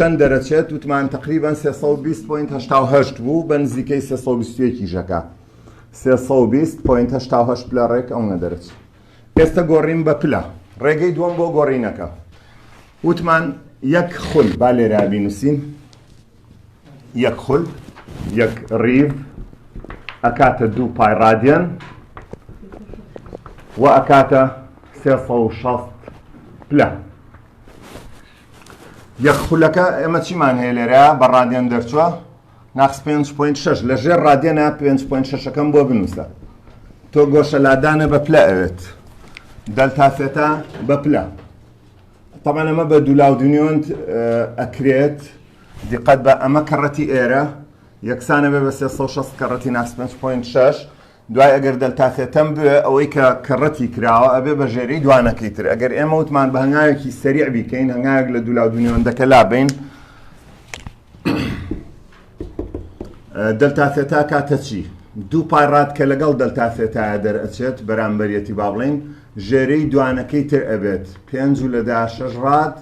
چەند دەرەچێت وتمان تقریبا 320.88 بوو بە نزیکەی 321 کیژەکە 320.88 پلە ڕێک ئەو نەدەرچ ئێستا گۆڕیم بە پلە ڕێگەی دووەم بۆ گۆڕینەکە وتمان یەک خول با لێرا بینوسین یەک خول یەک ڕیڤ ئەکاتە دوو پای ڕادیان و ئەکاتە 360 پلە یەک خولەکە ئێمە چیمان هەیە لێرە بە ڕادێن دەرچووە ناقس 5.6 لە ژێر ڕادێنە 5.6ەکەم بۆ بنووسە تۆ گۆشە لادانە بە پلە ئەوێت دەلتاسێتە بە پلە طبعا ئەمە بە دولاو دنیۆنت ئەکرێت دیقەت بە ئەمە کەڕەتی ئێرە یەکسانە بێ بە 360 کەڕەتی ناقس 5.6 دوای ئەگەر دەلتا ثێتەم بوێ ئەوەی کە کە ڕەتی کراوە ئەبێ بە ژێرەی دوانەکەی تر ئەگەر ئێمە وتمان بە هەنگاوێکی سەریع بیکەین هەنگاوێک لە دوولا دونیۆندەکە لابین دەلتا ثێتا کاتە چی دوو پای ڕات کە لەگەڵ دەلتا ثێتایە دەرئەچێت بەرامبەرەتی با بڵین ژێرەی دوانەکەی تر ئەبێت پێنج و لەدا شەش ڕات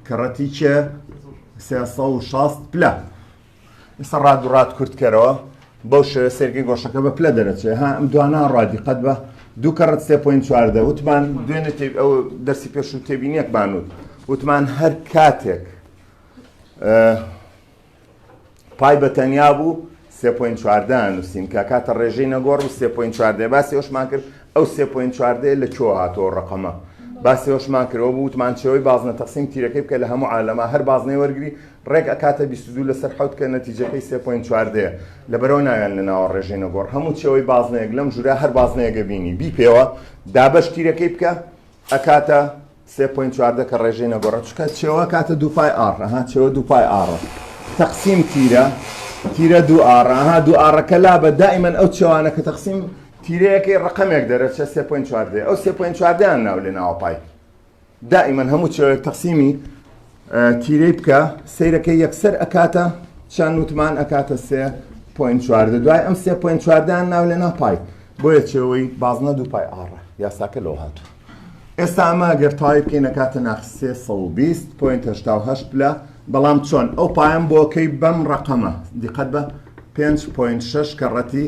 کە ڕەتی چێ سێ سەد و شەست پلە ئیستا ڕاد و ڕات کورت کەرەوە بەو شێوە سێرگەی گۆشەکە بە پلە دەرەچێ ها ئەم دوانا ڕادی قەت بە دوو کەڕەت سێ پوین چواردە وتمان دوێنێ ئەو دەرسی پێش و تێبینیەک بانوت وتمان هەر کاتێک پای بە تەنیا بوو سێ پوین چواردە نووسین کە کاتە ڕێژەی نەگۆڕ و سێ پوین چواردە باسی ئەوشمان کرد ئەو سێ پوین چواردەیە لە کۆ هاتۆ ڕقەمە باسی ئەوشمان کرەوە بووتمان چەوەی بازنە تەقسیم تیرەکەی بکە لە هەموو عالەما هەر بازنەی وەرگری ڕێک ئەکاتە بیست و دوو لەسەر حەوت کە نەتیجەکەی سێ پۆینت چواردەیە لەبەرەوە ناویان لە ناوە ڕێژەینە گۆڕ هەموو چێوەی بازنەیەک لەم ژورا هەر بازنەیەگە بینی بی پێوە دابەش تیرەکەی بکە ئەکاتە سێ پۆینت چواردە کە ڕێژەی نەگۆڕە چکە چێوە کاتە دووپای ئاڕەها چێوە دووپای ئاڕە تەقسیم تیرە تیرە دوو ئاڕەها دوو ئاڕەکە لا بە دائیمەن ئەو چێوانە کە تەقسیم تیرەیەکەی ڕقەمێک دەرەچە سێ پۆینت چواردە ئەو سێ پۆینت چواردەیان ناو لێ ناوە پای دائیمەن هەموو چێوێک تەقسیمی تیرەی بکە سیرەکەی یەکسەر ئەکاتە چەند وتمان ئەکاتە سێ پوین چواردە دوای ئەم سێ پوین چواردان ناو لە ناپای بۆیە چێەوەی بازنە دوو پای ئاڕە یاساکە لەو هاتوو ئێستا ئەمە گەر تای بکەین نەکاتە ناخسێ 120 پوینت هشتاهشت پلە بەڵام چۆن ئەو پایان بۆکەی بەم ڕقەمە دیقەت بە 5.6 کەڕەتی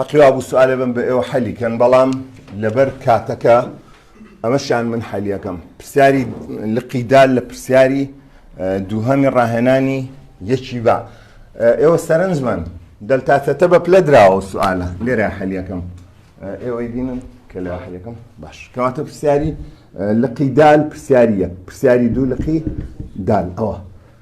هەقی وابوو سوالێ بم بە ئێوە حەلی کەن بەڵام لەبەر کاتەکە ئەمەشان من حەلیەکەم پرسیاری لقی دال لە پرسیاری دووهەمی ڕاهێنانی یەکی با ئێوە سەرنجمان دەلتاتەتە بە پلە دراوە سوالە لێرە حەلیەکەم ئێوەی بینن کە لە حەلیەکەم باش کەواتە پرسیاری لقی دال پرسیاریە پرسیاری دوو لقی دال ئەوە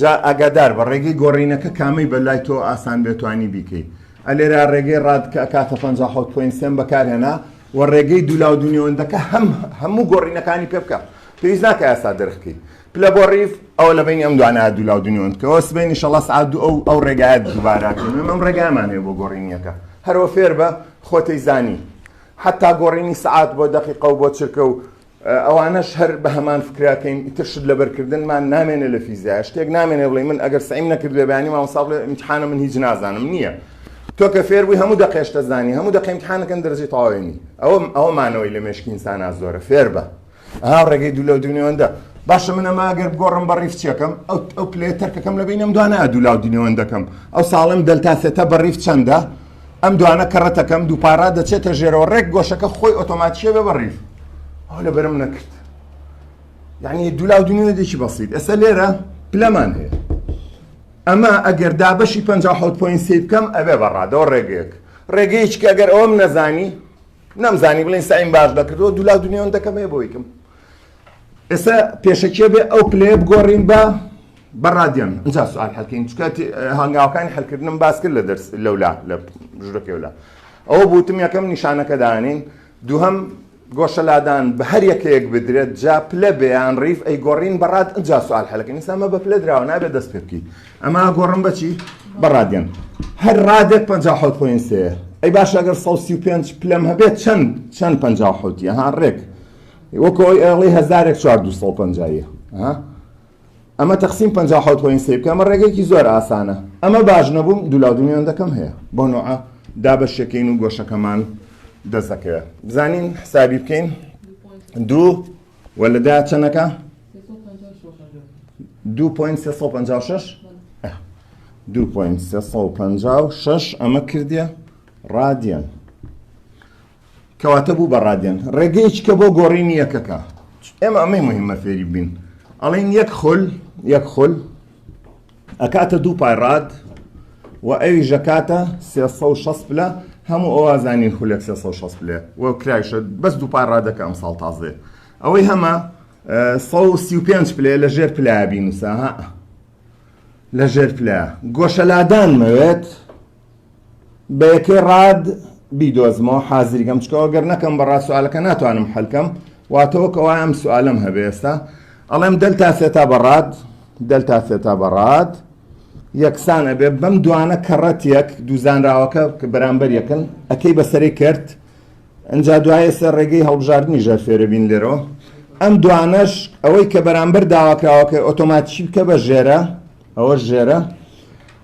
جا ئاگادار بە ڕێگەی گۆڕینەکە کامەی بە لای تۆ ئاسان بێ توانی بیکەی ئە لێرا ڕێگەی ڕاد کە ئەکاتە پەنجا و حەوت پۆینت سێم بەکار هێنا وە ڕێگەی دوولاو دوو نێوەندەکە هەم هەموو گۆڕینەکانی پێ بکە پێویست ناکە یاسا دەرخکەی پلە بۆ ڕیف ئەوە لە بینی ئەم دوانە دوولاو دوو نێوەند کەەوە سبینی شەڵا سعات دوو ئەو ئەو ڕێگایە دووباراکەین ئەم ڕێگامان هەیە بۆ گۆڕینیەکە هەرۆ فێر بە خۆتەی زانی حتا گۆڕینی سعات بۆ دەقیقە و بۆ چرکە و ئەوانەش هەر بەهەمان فکرە کەین ئیتر شت لەبەرکردنمان نامێنێ لە فیزیا شتێک نامێنێ بڵێ من ئەگەر سعیم نەکرد لە بەیانی مامۆستا بڵێ امتحانە من هیچ نازانم نییە تۆ کە فێر بووی هەموو دەقێشتە زانی هەموو دەقی امتحانەکەن دەرجی تەواوێنی ئەوە ئەوە مانەوەی لە مێشکی ئینسانا زۆرە فێر بە ئا ڕێگەی دوو لە دونیوەندە باشە من ئەمە ئەگەر بگۆڕم بە ڕیفچەکەم ئەو ئەو پلێ تەرکەکەم لە بینم دوانە دوو لاو دینەوەندەکەم ئەو ساڵم دەلتا سێتە بە ڕیف چەندە ئەم دوانە کەڕەتەکەم دووپارا دەچێتە ژێرەوە ڕێک گۆشەکە خۆی ئۆتۆماتیە بێ بەڕیف ئەو لە بەرم نەکرد یعنی دولا و دنیا دێکی بەسیت ئێستا لێرە پلەمان هەیە ئەمە ئەگەر دابەشی 56 پوین سی بکەم ئەبێ بەڕادەوە ڕێگەیەک ڕێگەیەکی ئەگەر ئەوم نەزانی نەمزانی بڵین سعیم باش دەکردەوە دولا دنیاون دەکەم هەیە بۆیکم ئێستا پێشەکیە بێ ئەو پلەیە بگۆڕین بە بە ڕادیۆن اینجا سوال هەلکەین چکە هەنگاوەکانی هەلکردنم باس کرد لە دەرس لەولا لە ژورە پێولا ئەوە بوتم یەکەم نیشانەکە دانین دووهم گۆشە لادان بە هەر یەکەیەک بدرێت جا پلە بێیان ڕیف ئەی گۆڕین بەڕات ئەجا سوال هەلەکە نیسامە بە پلە دراوە نابێت دەست پێ بکەیت ئەما گۆڕم بەچی بەڕادێن هەر ڕادێک 56 پوین سێ ئەی باش ئەگەر 135 پلەم هەبێت چەند چەند 56 ها ڕێک وەکو ئەوی ئەڵی هەزارێک چوار دو سەد و پەنجا یە ها ئەمە تەقسیم پەنجا و حەوت پۆین سێ بکە ئەمە ڕێگەیەکی زۆر ئاسانە ئەمە باش نەبووم دوو لاو دوو مێوندەکەم هەیە بۆ نوعە دابەشەکەین و گۆشەکەمان دەست دەکەوێ بزانین حسابی بکەین دوو وە لە دا چەنەکە دوو پۆین سێ سەد و پەنجا و شەش دوو پۆین سێ سەد و پەنجا و شەش ئەمە کردیە ڕادیەن کەواتە بوو بە ڕادێن ڕێگەیەکی کە بۆ گۆڕینی یەکەکە ئێمە ئەمەی مهمە فێری بین ئەڵین یەک خل یەک خل ئەکاتە دوو پای ڕاد و ئەوی ژەکاتە 360 پلە هەموو ئەوازانین خولێک 360 پلێ و کرایشە بەس دوو پای ڕادەکە ئەم ساڵ تازێ ئەوەی هەمە 135 پلێ لە ژێر پلابی نووسە لە ژێر پلە گۆشەلادان مەوێت بە یەکەی ڕاد بیدۆزمەوە حازریگەم چکەوە گەر نەکەم بەڕا سوالەکە ناتوانم حەلکەم واتەوە کەوا ئەم سوالم هەبێ ئێستا ئەڵێم دەلتا سێتا بەڕاد دەلتا سێتا بەڕاد یەکسان ئەبێ بەم دوانە کەڕەت یەک دووزانراوەکە کە بەرامبەر یەکن ئەەکەی بەسەری کرد ئەجا دوایە سەر ڕێگەی هەڵبژاردننی ژەر فێرە بین لێرەوە ئەم دوانەش ئەوەی کە بەرامبەر داواکراوەکە ئۆتۆماتیکی بکە بە ژێرە ئەوە ژێرە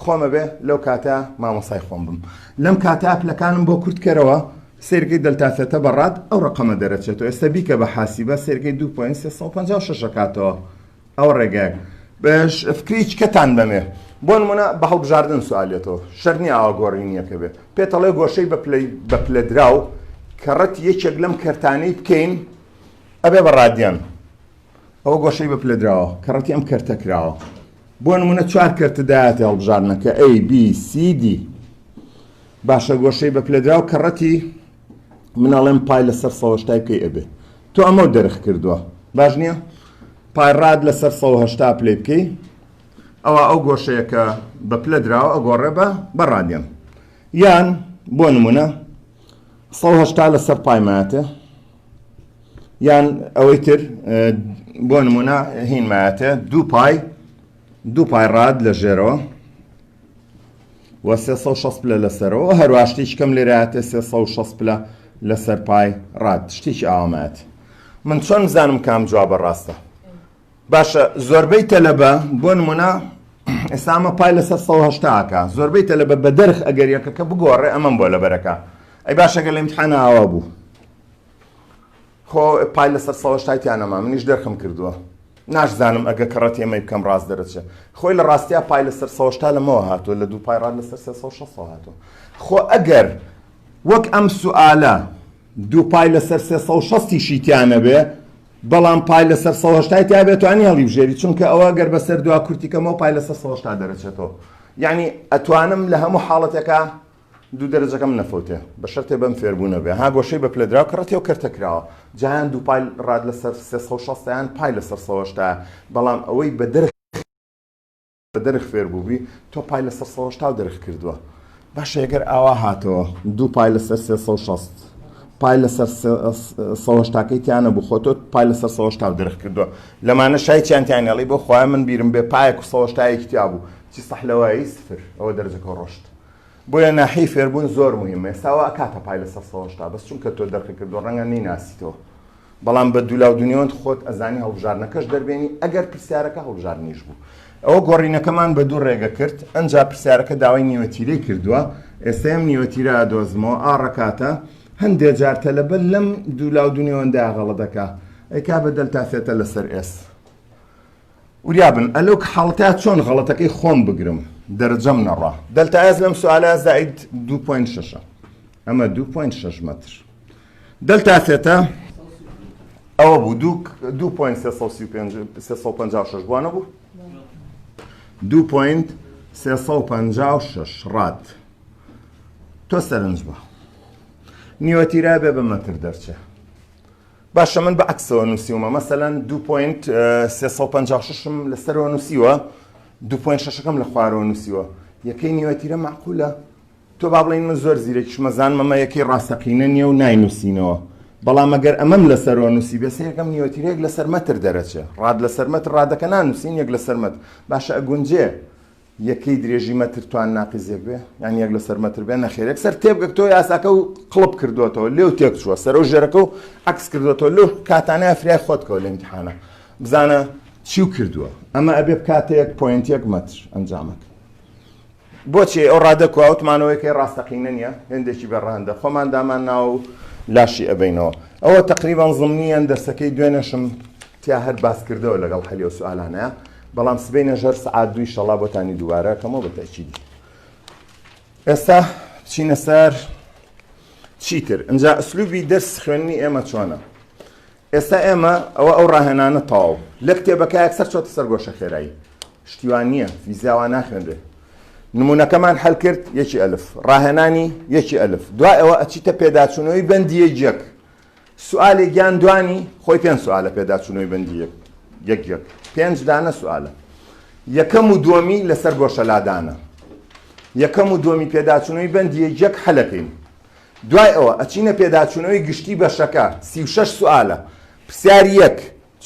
خۆم ئەبێ لەو کاتە مامۆسای خۆم بم لەم کاتە پلەکانم بۆ کورت کەرەوە سێرگەی دەلتا سێتە بەڕات ئەو ڕقەمە دەرەچێتەوە ئێستا بیکە بە حاسیبە سێرگەی 2.356 کاتەوە ئەو ڕێگەیەک بەش فکریچ کەتان بەمێ بۆ نمونە بە هەڵبژاردن سوالێتەوە شەرنی ئاوا گۆڕینیەکە بێ پێتەڵێ گۆشەی بە پلەی بە پلەدراو کە ڕەت یەکێک لەم کەرتانەی بکەین ئەبێ بە ڕادیان ئەوە گۆشەی بە پلە دراوە کە ڕەتی ئەم کەرتە کراوە بۆ نمونە چوار کەرتە داهاتی هەڵبژاردنەکە A B C D باشە گۆشەی بە پلە دراوە کە ڕەتی مناڵێم پای لەسەر سەوەشتای بکەی ئەبێ تۆ ئەمە دەرخ کردووە باش نییە پایڕات لەسەر سەهشتا پلی بکەی ئەوە ئەو گۆشەیەکە بە پلە دراوە ئەگۆڕێ بە بەڕادێن یان بۆ نمونە سەهشتا لەسەر پایماتە یان ئەوەی تر بۆ نمونە هینمایەتە دوو پای دوو پای ڕاد لە ژێرەوە و 360 پلە لەسەرەوە هەرواشتیش کەم لێراتێ 360 پلە لەسەر پای ڕاد شتیش ئامات من چۆن زانم کام جوابە ڕاستە باشە زۆربەی تەلەبە بۆ نمونە ئێستا ئەمە پای لەسەر سەد و هەشتا ئەکا زۆربەی تەلەبە بە دەرخ ئەگەر یەکەکە بگۆڕێ ئەمەم بۆ لەبەر ئەکا ئەی باشە گەر لە ئیمتحانە ئاوا بوو خۆ پای لەسەر سەد و هەشتای تیا نەما منیش دەرخم کردووە ناشزانم ئەگە کە ڕەت ئێمەی بکەم ڕاست دەرەچێ خۆی لە ڕاستیا پای لەسەر سەد و هەشتا لەمەوە هاتووە لە دوو پای ڕات لەسەر سێ سەد و شەست هاتووە خۆ ئەگەر وەک ئەم سوالە دوو پای لەسەر سێ سەد و شەستی شی تیا نەبێ بەڵام پای لەسەر سەد و هەشتای تیا بێت توانی هەڵیبژێری چونکە ئەوە گەر بەسەر دوا کورتیکەمەوە پای لەسەر سەد و هەشتا دەرەچێتەوە یعنی ئەتوانم لە هەموو حاڵەتێکا دوو دەرەجەکەم نەفەوتێ بە شەرتێ بەم فێربوونە بێ ها گۆشەی بە پلەدراو کە ڕەتێ و کەرتە کراوە جایان دوو پای ڕاد لەسەر سێ سەد و شەستیان پای لەسەر سەد و هەشتا بەڵام ئەوەی بە دەر دەرخ فێر بووبی تۆ پای لەسەر سەد و هەشتا و دەرخ کردووە باشە ئەگەر ئاوا هاتەوە دوو پای لەسەر سێ سەد و شەست پای لەسەر سەهشتاکەی تیانە بوو خۆ تۆ پای لەسەر سەهشتا و دەرخ کردووە لەمانە شای چیانتیان هێڵی بۆ خۆیان من بیرم بێ پایەک و سەهشتایەکی تیا بوو چی سەحلەوەی سفر ئەوە دەرجەکە ڕۆشت بۆیە ناحی فێربوون زۆر مهمە ساوا کاتە پای لەسەر سەهشتا بەس چونکە تۆ دەرخ کردو ڕەنگە نیناسیتەوە بەڵام بە دولاو دونیۆند خۆت ئەزانی هەڵبژاردنەکەش دەربێنی ئەگەر پرسیارەکە هەڵبژاردنیش بوو ئەوە گۆڕینەکەمان بە دوو ڕێگە کرد ئەنجا پرسیارەکە داوای نیوەتیرەی کردووە ئێستا ئەم نیوەتیرە ئەدۆزمەوە ئا ڕەکاتە هەندێ جار تەلەبە لەم دولاو دونیۆندا غەڵە دەکا ئەیکا بە دەلتا سێتە لەسەر ئێس وریابن ئەلۆک حاڵەتە چۆن غەڵەتەکەی خۆم بگرم دەرەجەم نەڕا دەلتا ئێس لەم سوالە زائید 2.6 ئەمە 2.6 مەتر دەلتا سێتا ئەوە بوو دوو دوو پوین سێ سەد و سی و پێنج سێ سەد و پەنجا و شەش بوانە بوو دوو پوین سێ سەد و پەنجا و شەش ڕات تۆ سەرنج بە نیوەتیرا بێ بە مەتر دەرچێ باشە من بە عکسەوە نووسیومە مەسەەن دوو پوین سێ سەد و پەنجا و ششم لەسەرەوە نووسیوە دوو پوین شەشەکەم لە خوارەوە نووسیوە یەکەی نیوەتیرە معقولە تۆ با بڵێین من زۆر زیرەکیشم ئەزانم ئەمە یەکەی ڕاستەقینە نییە و ناینووسینەوە، بەڵام ئەگەر ئەمەم لەسەرەوە نووسیبێ سێ یەکەم نیوەتیرە یەک لەسەر مەتر دەرەچێ، ڕاد لەسەر مەتر ڕادەکە نانووسین یەک لەسەر مەتر، باشە ئەگونجێ یەکەی درێژی مەتر توان ناقیس یەک بێ؟ یان یەک لەسەر مەتر بێ؟ نەخێر یەکسەر تێبگە تۆ یاساکە و قڵپ کردووەتەوە لێو تێک چووە سەرە و ژێرەکە و عەکس کردووەتەوە لەو کاتانەیە فریای خۆت کەوە لە ئیمتیحانە بزانە چی و کردووە ئەمە ئەبێ بکاتە یەک پۆینت یەک مەتر ئەنجامەکە بۆچی ئەو ڕادە کوا ئەو تمانەوەی کەی ڕاستەقینە نیە هێندێکی بێ ڕەهەندە خۆمان دامان ناوە و لاشی ئەبەینەوە ئەوە تەقریبان زمنیان دەرسەکەی دوێنێشم تیا هەر باس کردەوە لەگەڵ حەلی و سوالانە بەڵام سبینە ژەر سعات دوی شەڵا بۆتانی دووبارە کەمەوە بە تەچیدی ئێستا چینە سەر چیتر ئەجا ئەسلوبی دەرس خوێنی ئێمە چۆنە ئێستا ئێمە ئەوە ئەو ڕاهێنانە تەواو لە کتێبەکە یەکسەر چۆتە سەر گۆشە خێرایی شتی وان نییە فیزیا وا ناخوێنرێ نمونونەکەمان هەل کرد یەکی ئەلف ڕاهێنانی یەکی ئەلف دوای ئەوە ئەچیتە پێداچوونەوەی بەندیە یەک سوالێک گیان دوانی خۆی پێنج سوالە پێداچوونەوەی بەندی یەک یەک یەک پێنج دانە سوالە یەکەم و دووەمی لەسەر گۆشەلادانە یەکەم و دووەمی پێداچوونەوەی بەندی یەک حەلەکەین دوای ئەوە ئەچینە پێداچوونەوەی گشتی بەشەکە سی و شەش سوالە پرسیار یەک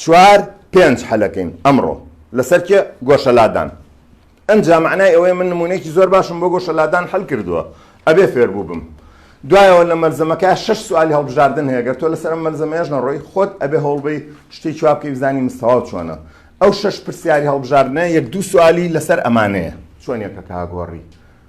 چوار پێنج حەلەکەین ئەمڕۆ لەسەر کێ گۆشەلادان ئەنجا مەعنای ئەوەیە من نموونەیەکی زۆر باشم بۆ گۆشەلادان حەل کردووە ئەبێ فێر بووبم دوایەوە لە مەلزەمەکە شەش سوالی هەڵبژاردن هەیە گەر تۆ لەسەر ئەم مەلزەمەیەش نەڕۆی خۆت ئەبێ هەوڵ بەی شتێک چوا بکەی بزانی مستەواو چۆنە ئەو شەش پرسیاری هەڵبژاردنە یەک دوو سوالی لەسەر ئەمانەیە چۆن یەکەکە هاگۆڕی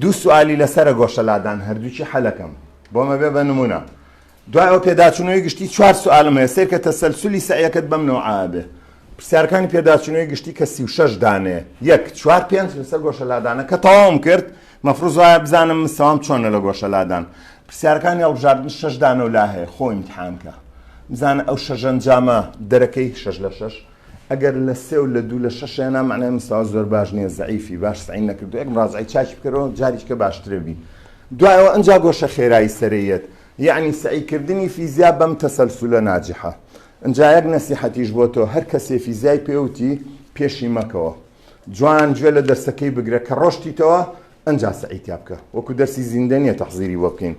دوو سوالی لەسەرە گۆشە لادان هەردووکی حەلەکەم بۆ مەبێ بە نمونە دوای ئەو پێداچونەوەی گشتی چوار سوالم هەیە سەیرکە تەسەلسولی سەعیەکەت بەم نەوعا بێ پرسیارەکانی پێداچونەوەی گشتی کە سی و شەش دانێ یەک چوار پێنج لەسەر گۆشە لادانە کە تەواوم کرد مەفروز وایە بزانم مستەوام چۆنە لە گۆشە لادان پرسیارەکانی هەڵبژاردن شەش دانە و لا هەیە خۆ ئیمتحانکە بزانە ئەو شەژەنجامە دەرەکەی شەش لە شەش ئەگەر لە سێ و لە دوو لە شەش هێنا مەعنای مستەوا زۆر باش نیە زەعیفی باش سەعی نەکردوە یەک مراجعەی چاکی بکەرەوە جاریچکە باشترە بی دوایەوە ئەنجا گۆشە خێرایی سەرەیەت یەعنی سەعی کردنی فیزیا بەم تەسەلسولە ناجحە ئەنجا یەک نەسیحەتیش بۆ تۆ هەر کەسێ فیزیای پێوتی پێشی مەکەوە جوان گوێ لە دەرسەکەی بگرە کە ڕۆشتیتەوە ئەنجا سەعی تیا بکە وەکو دەرسی زیندە نیە تەحزیری بۆ بکەین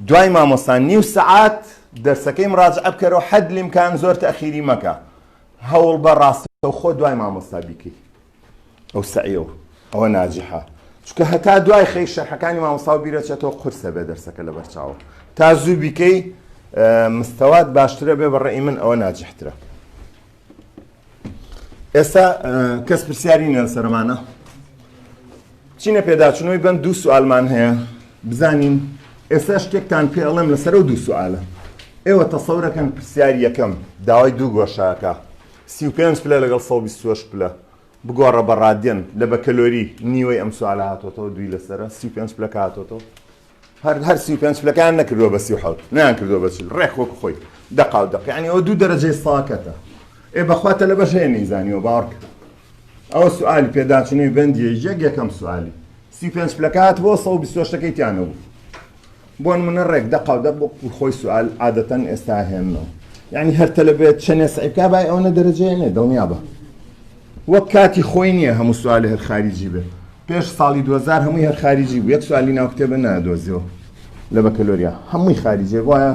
دوای مامۆستا نیو سەعات دەرسەکەی مڕاجعە بکەرەوە حەد لیمکان زۆر تەخیری مەکە هەوڵ بە ڕاستەو خۆ دوای مامۆستا بیکەی ئەو سەعیەوە ئەوە ناجحە چکە هەتا دوای خەی شەرحەکانی مامۆستا و بیرەچێتەوە قورسە بێ دەرسەکە لە بەرچاوە تا زوو بیکەی مستەوات باشترە بێ بەڕێی من ئەوە ناجحترە ئێستا کەس پرسیاری نیە سەرمانە چینە پێداچنەوەی بەم دوو سوالمان هەیە بزانین ئێستا شتێکتان پێ ئەڵێم لەسەر و دوو سوالە ئێوە تەسەورەکەن پرسیار یەکەم داوای دوو گۆشاکە سی و پێنج پلە لەگەڵ سەڵ بیستوەش پلە بگۆڕە بە ڕادێن لە بەکەلۆری نیوەی ئەم سوالە هاتۆتەوە دوی لەسرە سی پێنج پلەکە هاتۆتەوە هەر هەر سی و پێنج پلەکان نەکردووە بە سی و حەوت نیان کردووە بە چل ڕێک وەکو خۆی دەقا و دەق یعنی ئەوە دوو دەرەجەی ساکەتە ئێ بەخوا تەلەبەش هەیە نەیزانیوە باوەڕ کە ئەوە سوالی پێداچوونەوەی بەندیە یەک یەکەم سوالی سی و پێنج پلەکات بۆ سە و بیست و شتەکەی تیانەبوو بۆ نمونە ڕێک دەقا و دەق بۆ خۆی سوال عادەتەن ئێستا هێنەوە یعنی هەر تەلەبێت چەنێ سعیبکا بای ئەوەنە دەرەجەیە نێ دڵنیا بە وەک کاتی خۆی نیە هەموو سوالی هەر خاریجی بێت پێش ساڵی دوهەزار هەمووی هەر خاریجی بوو یەک سوالی ناو کتێبە نادۆزیەوە لە بەکەلۆریا هەمووی خاریجێ وایە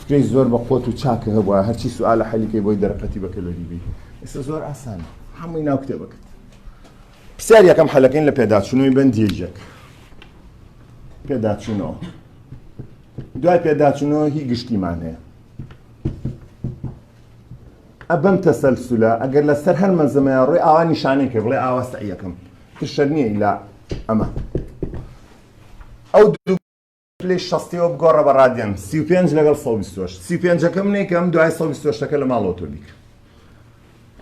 فکرەی زۆر بە قوت و چاکە هەبووە هەرچی سوالە حەلیکەی بۆی دەرقەتی بەکەلۆری بی ئێستا زۆر ئاسان هەمووی ناو کتێبە کرد پرسیار یەکەم حەلەکەین لە پێداچوونەوەی بەندێژێک پێداچوونەوە دوای پێداچوونەوە هی گشتیمان هەیە ئە بەم تەسەلسولە ئەگەر لەسەر هەر مەزەمەیە ڕێ ئاوا نیشانەی کرد ڕێ ئاوا سەعیەکەم تشەر نییە ئیلا ئەمە ئەو پلی شەستەوە بگۆڕە بە ڕادیان سی و پێنج لەگەڵ سە بیستۆش سی پێنجەکەم نەیکەم دوای سە بیستۆشتەکە لە ماڵەوە تۆ بیکە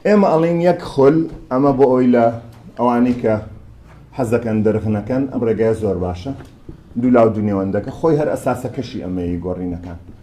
ئێمە ئەڵین یەک خۆل ئەمە بۆ ئەوی لە ئەوانەی کە حەزەکەن دەرغنەکەن ئەم ڕێگای زۆر باشە دوو لاو دونێوەندەکە خۆی هەر ئەساسەکەشی ئەمەیە گۆڕینەکان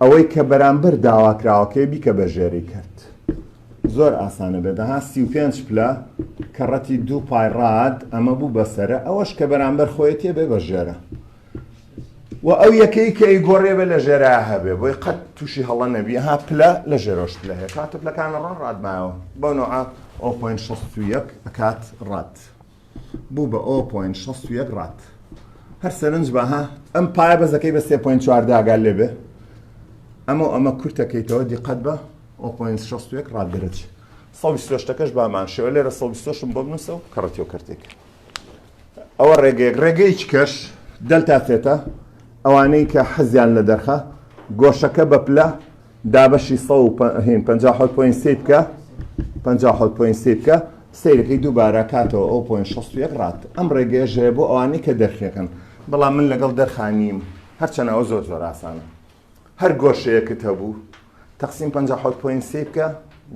ئەوەی کە بەرامبەر داواکراوەکەی بیکە بە ژێری کەرت زۆر ئاسانە بێت ها سی و پێنج پلە کەڕەتی دوو پای ڕاد ئەمە بوو بەسرە ئەوەش کە بەرامبەر خۆیەتێ بێ بە ژێرە و ئەو یەکەی کە ئی گۆڕێ بێ لە ژێرا هەبێ بۆی قەت تووشی هەڵە نەبی ها پلە لە ژێرۆش پلە هەیە کاتە پلەکانە ڕۆن ڕادمایەوە بەو نەوە ئەو پۆین شەست و یەک ئەکات ڕات بوو بە ئۆ پۆینت شەست و یەک ڕات هەر سەرنج بە ها ئەم پایە بەزەکەی بە سێ پۆینت چوار داگال لێ بێ ئەمە ئەمە کورتەکەیتەوە دیقەت بە ئۆ پۆینت شەست و یەک ڕات دەرەچ سەوی سۆشتەکەش بامان شێوە لێرە سەوی سۆشم بۆ بنووسە و کەڕەتیۆ کردێک ئەوە ڕێگەیەک ڕێگەیەک کەش دەلتا تێتە ئەوانەی کە حەزیان لە دەرخە گۆشەکە بە پلە دابەشی سەد و پەنجا و حەوت پۆینت سێی بکە پەنجا و حەوت پۆینت سێی بکە سەیرەکەی دووبارە کاتەوە ئەو پۆینت شەست و یەک ڕات ئەم ڕێگەیەش هەیە بۆ ئەوانەی کە دەرخەکەن بەڵام من لەگەڵ دەرخا نیم هەرچەنە ئەو زۆر زۆر ئاسانە هەر گۆشەیەکت هەبوو تەقسیم پەنجا و حەوت پۆینت سێی بکە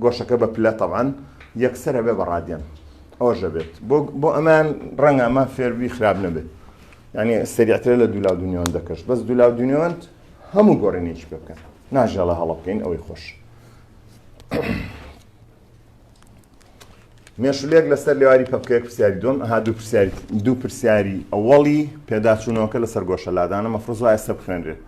گۆشەکە بە پلە تەبعەن یەکسەرە بێ بە ڕادیان ئەوەشە بێت بۆ بۆ ئەمان ڕەنگە ئەمان فێربی خراپ نەبێت یعنی سریعترە لە دوولا دنیاوەندەکەش بەس دوولا دنیاوەند هەموو گۆڕینێکی پێ بکەن ناژێڵە هەڵە بکەین ئەوەی خۆش مێشولێک لەسەر لێواری پەپکەیەک پرسیاری دوم ها دوو پرسیاری دوو پرسیاری ئەوەڵی پێداچوونەوەکە لەسەر گۆشە لادانە مەفرز وایە سە بخوێنرێت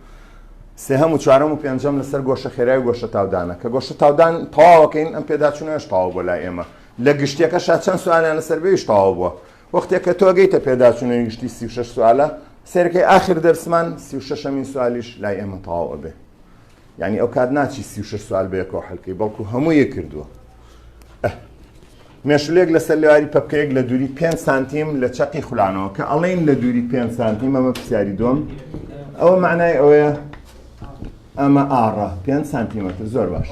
سێ هەموو چوارەم و پێنجەم لەسەر گۆشە خێرای گۆشە تاودانە کە گۆشە تاودان تەواوەکەین ئەم پێداچوونەش تاوا بۆ لای ئێمە لە گشتەکە شا چەند سوانیان لەسەر بێویش تەواو بووە وەختێ کە تۆ گەیتە پێداچوونەوەی گشتی سی و شەش سوالە سەیرکەی ئاخر دەرسمان سی و شەشەمین سوالیش لای ئێمە تەواو ئەبێ یعنی ئەو کات ناچی سی و شەش سوال بەیەکەوە حەلکەی بەڵکو هەموو یە کردووە مێشولێک لەسەر لێواری پەپکەیەک لە دووری 5 سانتیم لە چەقی خولانەوە کە ئەڵین لە دووری 5 سانتیم ئەمە پرسیاری دۆم ئەوە معنای ئەوەیە ئەمە ئاڕا 5 سانتیمەتر زۆر باش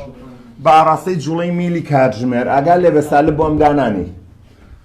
بە ئاڕاستەی جوڵەی میلی کاتژمێر ئاگا لێ بە سالب بۆم دانانی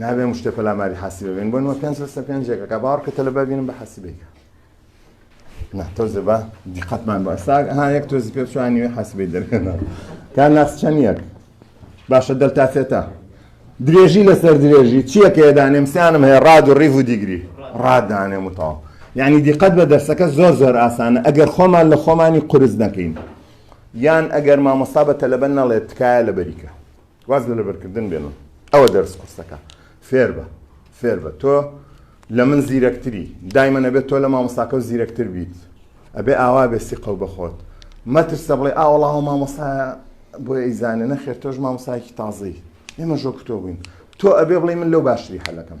نابێ ئەم شتە پەلاماری حەسیبە بێن بۆ نمە پێنج لەسەر پێنجێکە کە باوەڕکە تەلەبا بینم بە حەسیبێکە نا تۆزێ بە دیقەتمان بە ئەستا ها یەک تۆزی پێ چوانی وێ حەسیبی دەرێنە تا ناس چەند یەک باشە دەلتا سێتا درێژی لەسەر درێژی چیەکە دانێم سیانم هەیە ڕاد و ڕیڤ و دیگری ڕادانێم وتەوە یعنی دیقەت بە دەرسەکە زۆر زۆر ئاسانە ئەگەر خۆمان لە خۆمانی قرس نەکەین یان ئەگەر مامۆستا بە تەلەبە نەڵێت تکایە لەبەری کە واز لە لەبەرکردن بێنن ئەوە دەرس قورسەکە فێر بە فێر بە تۆ لە من زیرەکتری دایمە نەبێت تۆ لە مامۆستاکە و زیرەکتر بیت ئەبێ ئاوا بێ سیقە و بەخۆت مەترسە بڵێ ئاوەڵاوە مامۆستا بۆ ئەیزانە نەخێر تۆش مامۆسایکی تازەی ئێمە ژۆ کتۆ بووین تۆ ئەبێ بڵێ من لەو باشتری حەلەکەم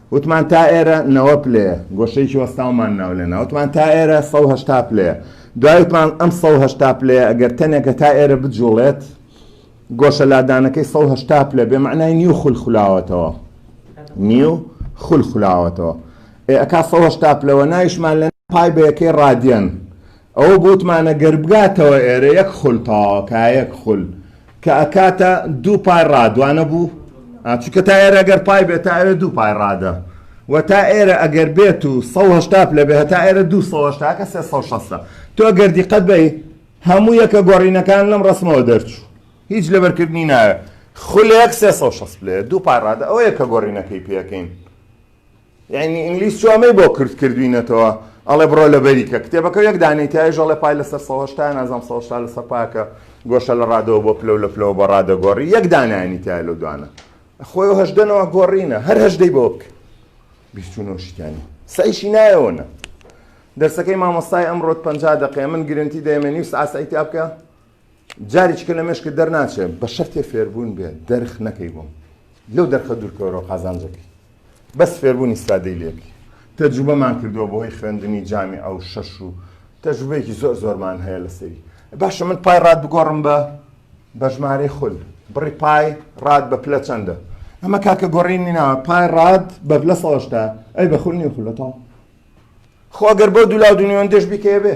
وتمان تا ئێرە نەوە پلەیە، گۆشەیەکی وەستاومان ناو لێنا، وتمان تا ئێرە سەد و هەشتا پلەیە، دوای وتمان ئەم سەد و هەشتا پلەیە ئەگەر تەنێک هەتا ئێرە بجووڵێت، گۆشە لادانەکەی سەد و هەشتا پلە بێ مەعنای نیو خول خولاوەتەوە، نیو خول خولاوەتەوە، ئێ ئەکا سەد و هەشتا پلە، وە ناویشمان لێنا پای بە یەکەی ڕادیەن، ئەوە بوتمانە گەر بگاتەوە ئێرە یەک خول تەواوە کا یەک خول کە ئەکاتە دوو پای ڕاد وانە بوو ئا چونکە تا ئێرە گەر پای بێت تا ئەوێ دوو پای ڕادە و تا ئێرە ئەگەر بێت و سەد و هەشتا پلە بێ هەتا ئێرە دوو سەد و هەشتا کە سێ سەد و شەستە تۆ گەر دیقەت بەی هەموو یەکە گۆڕینەکان لەم ڕەسمەوە دەرچوو هیچ لەبەرکردنی ناوێ خولێک سێ سەد و شەست پلەیە دوو پای ڕادە ئەوە یەکە گۆڕینەکەی پێ یەکەین یانی ئینگلیز چوە مەی بۆ کورد کردوینەتەوە ئەڵێ بڕۆ لە بەری کە کتێبەکە یەک دانەی تایش ئەڵێ پای لەسەر سەد و هەشتا نازام سەد و هەشتا لەسەر پاکە گۆشە لە ڕادەوە بۆ پلە و لە پلەوە بە ڕادە گۆڕی یەک دانانی تای لەو دوانە خۆی و هەشدەنەوە گۆڕینە هەر هەشدەی بۆ بکە بیست و نۆ شتیانی سەیشی نایەوەە دەرسەکەی مامۆستای ئەمڕۆت پەنجا دەقێ من گرنتی دەێمێنی و ساسەیتیا بکە جاریچکە لە مێشکت دەرناچێ بە شەرتێ فێربوون بێ دەرخ نەکەی بۆم لەو دەرخە دوورکەوەرەوە قازانجەکەی بەس فێربوونی سادەی لێکی تەجوبەمان کردووە بۆی خوێندنی جامی ئەو شەش و تەجوبەیەکی زۆر زۆرمان هەیە لەسەری باشە من پای ڕات بگۆڕم بە بەژمارەی خول بڕی پای ڕات بە پلە چەندە ئەمە کاکە گۆڕینی ناوە پای ڕات بە لە سەشتا ئەی بە خولنی خولەتەوە خۆگەر بۆ دولا دونیۆندێش بیکەیە بێ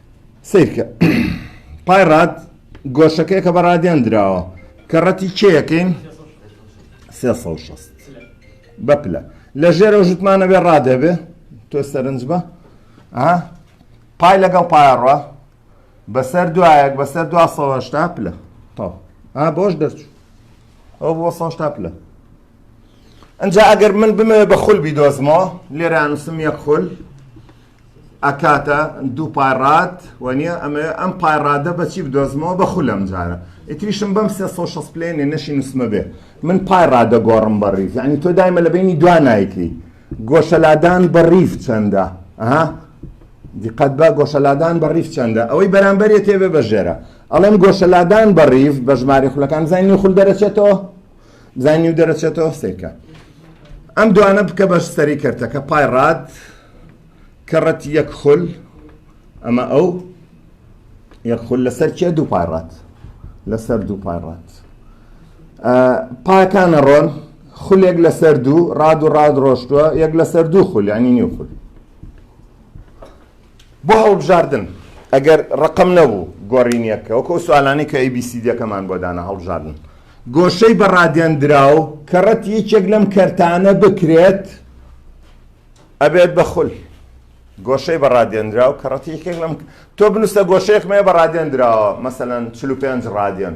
سەیرکە پای ڕاد گۆشەکەی کە بە ڕادیان دراوە کە ڕەتی کێیەکەین بە پلە لە ژێرە ژوتمانە بێ ڕادەبێ تۆ سەرنج بە پای لەگەڵ پایڕە بەسەر دوایەک بەسەر دوهشتا پلە تا بۆش دەرچوو ئەو بۆ سەشتا پلە ئەجا ئەگەر من بمەوێ بە خول بیدۆزمەوە لێرانوسم یە خول ئەکاتە دوو پای ڕاد وەنیە ئەمە ئەم پای ڕادە بەچی بدۆزمەوە بە خولەم جارە ئیتریشم بەم سێ سەد و شەست پلێنێ نەشی نووسمە بێ من پای ڕادە گۆڕم بە ڕیز یعنی تۆ دایمە لە بینی دوا نایکەی گۆشەلادان بە ڕیف چەندە ئەها دیقەت بە گۆشەلادان بە ڕیف چەندە ئەوەی بەرامبەرێ تێبێ بەژێرە ئەڵێم گۆشەلادان بە ڕیف بە ژماری خولەکان زانانی خول دەرەچێتەوە بزای نیو دەرەچێتەوە سیرکە ئەم دوانە بکە بەش سەری کردەکە پای ڕات کەڕەت یەک خول ئەمە ئەو یەک خول لەسەر کێ دوو پای ڕات لەسەر دوو پای ڕات پاکانە ڕۆن خولێک لەسەر دوو ڕاد و ڕاد ڕۆشتووە یەک لەسەر دوو خول ینی نیو خول بۆ هەڵبژاردن ئەگەر ڕقم نەبوو گۆرینیەکە وەکو ئەو سوالانەی کە ئەیبیسیدەکەمان بۆ دانا هەڵبژاردن گۆشەی بە ڕادێنراو کە ڕەت یەکێک لەم کەرتانە بکرێت ئەبێت بە خول گۆشەی بە ڕادێنراو کە ڕەتی یەکێک لەم تۆ بنووسە گۆشەیەکمەیە بە ڕادێنراوە مەسەەن 45 ڕادێن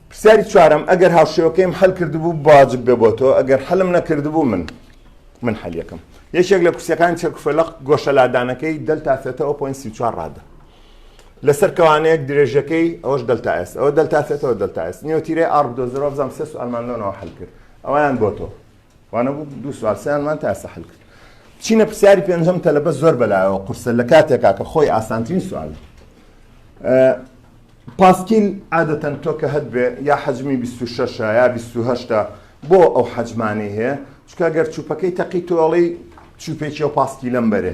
پرسیاری چوارەم، ئەگەر هاوشێوەکەیم حەل کردبوو بواجب بێ بۆ تۆ، ئەگەر حەلم نەکردبوو من من حەلیەکەم. یەکێک لە کورسیەکانی چەرکوفەلەق گۆشە لادانەکەی دەلتا ثێتا و پۆینت سی و چوار ڕادە. لەسەر کەوانەیەک درێژەکەی ئەوەش دەلتا ئێس ئەوە دەلتا ثێتا و دەلتا ئێس نیۆتیرەی ئاڕ بدۆزەرەوە بزانم سێ سوالمان لۆنەوە حەل کرد ئەویان بۆ تۆ. وانە بوو دوو سوال سێانمان تا ئێستا حل کرد چینە پرسیاری پێنجەم تەلەبە زۆر بەلایەوە قورسە لە کاتێکا کە خۆی ئاسانترین سوال پاسکیل عادەتەن تۆ کە هەت بێ یا حەجمی 26 یا 28 بۆ ئەو حەجمانەی هەیە چکە گەر چوپەکەی تەقی تۆڵی چوپێکی و پاسکیلەم بەرێ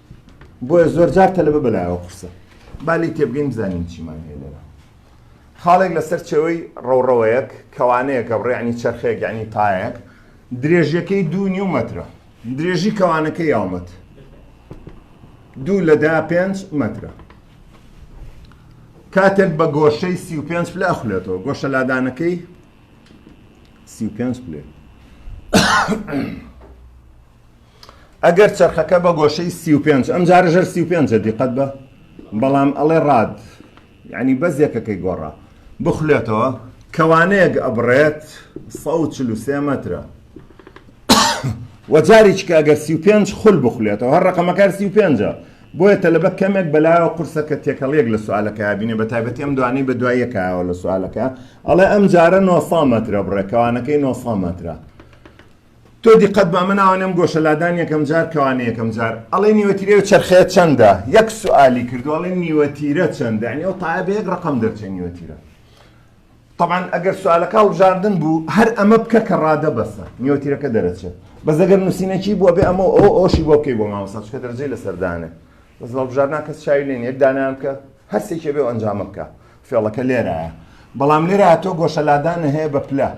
بۆیە زۆرجار تەلەبە بەلایەوە قورسە با لێی تێبگەین بزانین چیمان هەیە لێرە خاڵێک لەسەر چێوەی ڕەوڕەوەیەک کەوانەیەکە بڕێعنی چرخێک یعنی تایەک درێژیەکەی دوو نیو مەترە درێژی کەوانەکە یاومەت دوو لە دا پێنج مەترە کاتێک بە گۆشەی سی و پێنج پلە ئەخولێتەوە گۆشە لادانەکەی سی و پێنج پلێ ئەگەر چەرخەکە بە گۆشەی سی و پێنج ئەم جارە ژەر سی و پێنجە دیقەت بە بەڵام ئەڵێ ڕاد یعنی بەس یەکەکەی گۆڕا بخولێتەوە کەوانەیەک ئەبڕێت سە و چل و سێ مەترە وەجاریچکە ئەگەر سی و پێنج خول بخولێتەوە هەر ڕقەمەکار سی و پێنجە بۆیە تەلبە کەمێک بەلایەوە قورسە کە تێکەڵیەک لە سوالەکە بینێ بە تایبەتی ئەم دوانەی بە دوایەکایەوە لە سوالەکە ئەڵێ ئەم جارە نۆسا مەترە بڕێکەوانەکەی نۆسا مەترە تۆ دیقەت بە ئەمە ناوە نەم گۆشە لادان یەکەم جار کەوانە یەکەم جار ئەڵێ نیوەتیرەوە چرخەیە چەندە یەک سوالی کردو ئەڵێ نیوەتیرە چەندە ئەنی ئەو تاە بە یەک ڕقم دەرچێ نیوەتیرە طبعا ئەگەر سوالەکە هەڵبژاردن بوو هەر ئەمە بکە کە ڕادە بەسە نیوەتیرەکە دەرەچێت بەس ئەگەر نووسینەکی بووە بێ ئەمە ئەو ئەوشی بۆ بکەی بۆ مامەسا چکە دەرجەی لەسەردانێ بەس هەڵبژاردنا کەس چاوی لێن یەک دانیان بکە هەرسێکێ بێ و ئەنجامە بکە فێڵەکە لێرایە بەڵام لێرا تۆ گۆشە لادانە هەیە بە پلە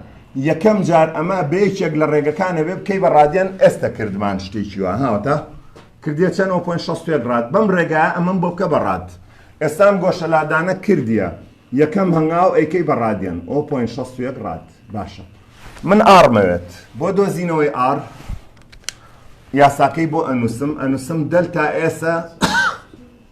یەکەم جار ئەمە بەیەکێک لە ڕێگەکانە بێ بکەی بە ڕادێن ئێستە کردمان شتێکی وە هاوتا کردێ چەند ئەو پۆین شەست پێک ڕات بەم ڕێگا ئەمەم بۆ بکە بە ڕات ئێستام گۆشە لادانە کردیە یەکەم هەنگاو ئەیکەی بە ڕادێن ئەو پۆین شەست پێک ڕات باشە من ئاڕمەوێت بۆ دۆزینەوەی ئار یاساکەی بۆ ئەنووسم ئەنووسم دەلتا ئێسە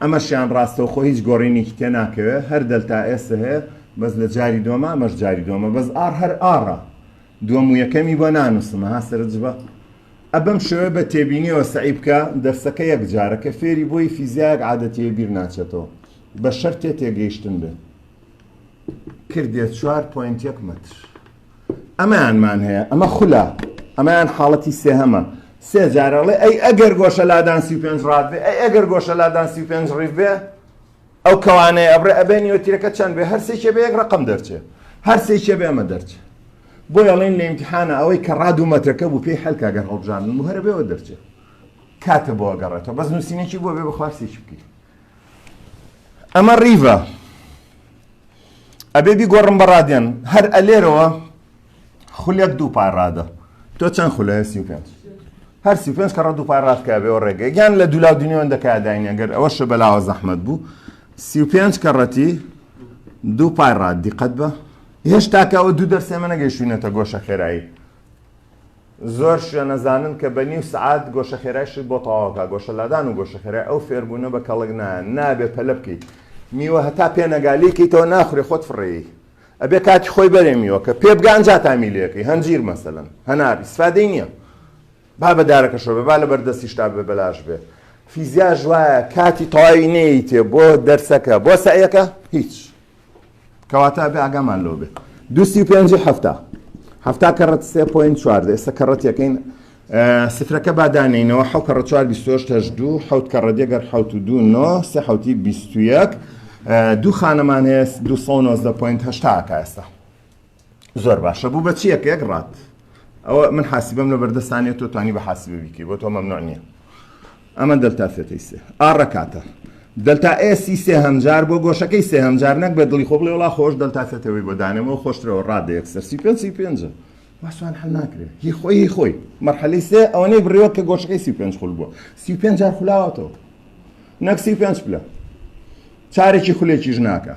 ئەمەشیان ڕاستەوخۆ هیچ گۆڕینێکی تێ ناکەوێت هەر دەلتا ئێسە هەیە بەس لە جاری دووەمە ئەمەش جاری دووەمە بەس ئاڕ هەر ئاڕە دووەم و یەکەمی بۆ نانوسم ها سەرنجبە ئە بەم شێوەیە بە تێبینیەوە سەعی بکە دەرسەکە یەک جارە کە فێری بۆی فیزیایەک عادەتیە بیر ناچێتەوە بە شەرتێ تێگەیشتن بێ کردیە چوار پۆینت یەک مەتر. ئەمەیانمان هەیە ئەمە خولە ئەمەیان حاڵەتی سێهەمە سێ جارەڵێ ئەی ئەگەر گۆشە لادان سی پێنج ڕات بێ ئەی ئەگەر گۆشە لادان سی پێنج ڕیف بێ ئەو کەوانەیە ئەبرێ ئەبێ نیوەتیرەکە چەند بێ هەرسێکێ بێ یەک ڕقم دەرچێ هەرسێکێ بێ ئەمە دەرچێ بۆ یاڵین لە امتحانە ئەوەی کە ڕاد و مەترەکە بوو پێی حلکە گەر هەڵبژان و هەرە بێەوە دەرچێ کاتە بۆ گەڕێتەوە بەس نووسینێکی بۆ بێ بەخوارسێکی بکەیت ئەمە ڕیڤە ئەبێ بیگۆڕم بە ڕادیان هەر ئەلێرەوە خولێک دوو پار ڕادە تۆ چەند خولە سی پێ هەر سی پێ کەڕە دوو پار ڕاستکە بێەوە ڕێگە گیان لە دولا دنیۆن دەکداینە گەر ئەوە شە بەلاوە زەحمت بوو سی پێ کەڕەتی دوو پار ڕات دیقەت بە هێشتاکەەوە دوو دەرسێمە نەگەیشتونەتە گۆشە خێرایی زۆر شوێنەزانن کە بە نیو سەعات گۆشەخێرای شت بۆ تەواوکا، گۆشەلادان و گۆشەخێرای ئەو فێربوونە بە کەڵک نایە، نابێ پەلە بکەیت میوە هەتا پێ نەگا لێی کەیتەوە ناخورێ خۆت فڕێی، ئەبێ کاتی خۆی بەرێ میوە کە پێ بگا ئەنجا تامی لێکەی، هەنجیر مەسەلەن هەنار ئیسفادەی نیە با بە دارەکەشەوە بێ با لە بەر دەستیشتا بێ بەلاش بێ، فیزیاش وایە کاتی تەواوی نەیەیتێ بۆ دەرسەکە بۆ سەعیەکە هیچ. کەواتە ئەبێ ئاگامان لەوە بێت دو سی و پێنجی هەفتا هەفتا کەڕەت سێ پوین چواردە ئێستا کەڕەت یەکەین سفرەکە بادانینەوە حەو کەڕە چوار بیستۆش هەش دوو حەوت کەڕە دێگەر حەوت و دوو نۆ سێ حەوتی بیست و یەک دوو خانەمان هەیە دو سە نۆزدە پوین هەشتاکە ئێستا زۆر باشە بوو بە چیە پێک ڕات ئەوە من حاسیبم لە بەردەستانێت تۆ توانی بە حاسیبە بیکەی بۆ تۆ مەمنوع نییە ئەمە دەلتا سێتەی سێ ئاڕەکاتە دەلتا ئێسی سێ هەمجار بۆ گۆشەکەی سێ هەمجار نەک بە دڵی خۆ بڵێ وڵا خۆش دەلتا سێتەوەی بۆ دانێمەوە خۆشترەوە ڕادە یەکسەر سی پێ سی پێنجە واسوان حل ناکرێت هی خۆی هی خۆی مەرحەلی سێ ئەوەنەی بڕێوە کە گۆشەکەی سی پێنج خول بووە سی پێنج جار خولاوەتەوە نەک سی پێنج پلە چارێکی خولێکیش ناکە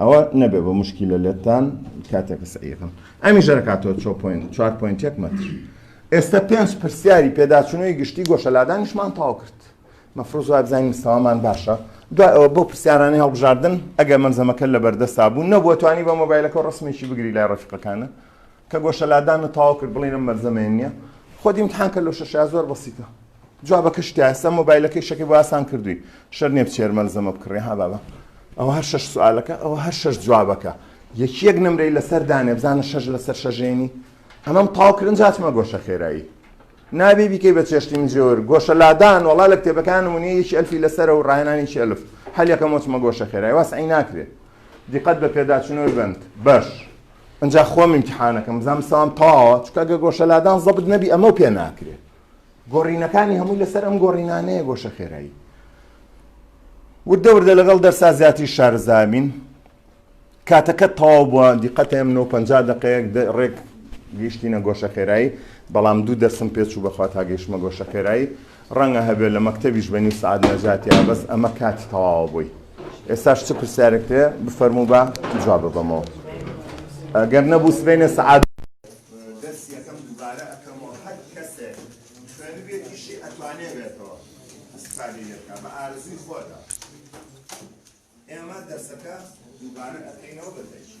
ئەوە نەبێ بە موشکیلە لێتان کاتێک کە سەعی یەکەم ئەمیشە دەکاتەوە چۆ پۆینت چوار پۆینت یەک مەتر ئێستا پێنج پرسیاری پێداچوونەوەی گشتی گۆشەلادانیشمان تاو کرد مەفرۆز وای بزانین مستەوامان باشە دوای ئەوە بۆ پرسیارانی هەڵبژاردن ئەگەر مەمزەمەکە لە بەردەستا بوو نەبووە توانی بە مۆبایلەکە و ڕسمێکی بگری لای ڕەفیقەکانە کە گۆشەلادان و تاو کرد بڵێنە مەرزەمێن نییە خۆ دیمتحانکە لۆ شەشا زۆر بەسیتە جوابەکە شتە ئەستا مۆبایلەکەی شەکەی بۆ ئاسان کردووی شەر نیە بچێر مەلزەمە بکڕێ ها بابە ئەوە هەر شەش سوالەکە ئەوە هەر شەش جوابەکە یەکی یەک نمرەی لەسەر دانێ بزانە شەش لەسەر شەژێنی ئەمەم تاو کرن جاتمە گۆشە خێرایی نابێ بیکەی بە چێشتی من جێور گۆشە لادان وڵا لە کتێبەکان ونی یەکی ئەلفی لەسەر و ڕایانانیی ئەلف هەلیەکە مۆچمە گۆشە خێرای واس عی ناکرێت دیقەت بە پێداچنەوەی بند بەش ئەجا خۆم امتحانەکەم بزانام ساوام تاوە چکە گە گۆشە لادان زەبت نەبی ئەمە پێ ناکرێت گۆڕینەکانی هەمووی لەسەر ئەم گۆڕینانەیە گۆشە خێرایی وردە وردە لەگەڵ دەرسا زیاتری شارزابین کاتەکە تەواو بووە دیقەتێم 950 دقەیەک ڕێک گەیشتینە گۆشە خێرایی بەڵام دوو دەسم پێچ و بەخوا تا گەیشتمە گۆشە خێرایی ڕەنگە هەبێت لە مەکتتەبیش بە نیو سعات نەجاتیا بەس ئەمە کاتی تەواوە بووی ئێستاش چ پرسیارێکتێ بفەرمو بە جواب بەمەوە ئەگەر نەبوو سبێنێ سعات دەرسی یەکەم دووبارە ئەکەمەوە هەر کەسێک خوێنبێتیشی ئەتوانێ بێتەوە استفادە لێبکە بە ئارزوی خۆتە ئێمە دەرسەکە دووبارە ئەکەینەوە بە تەکی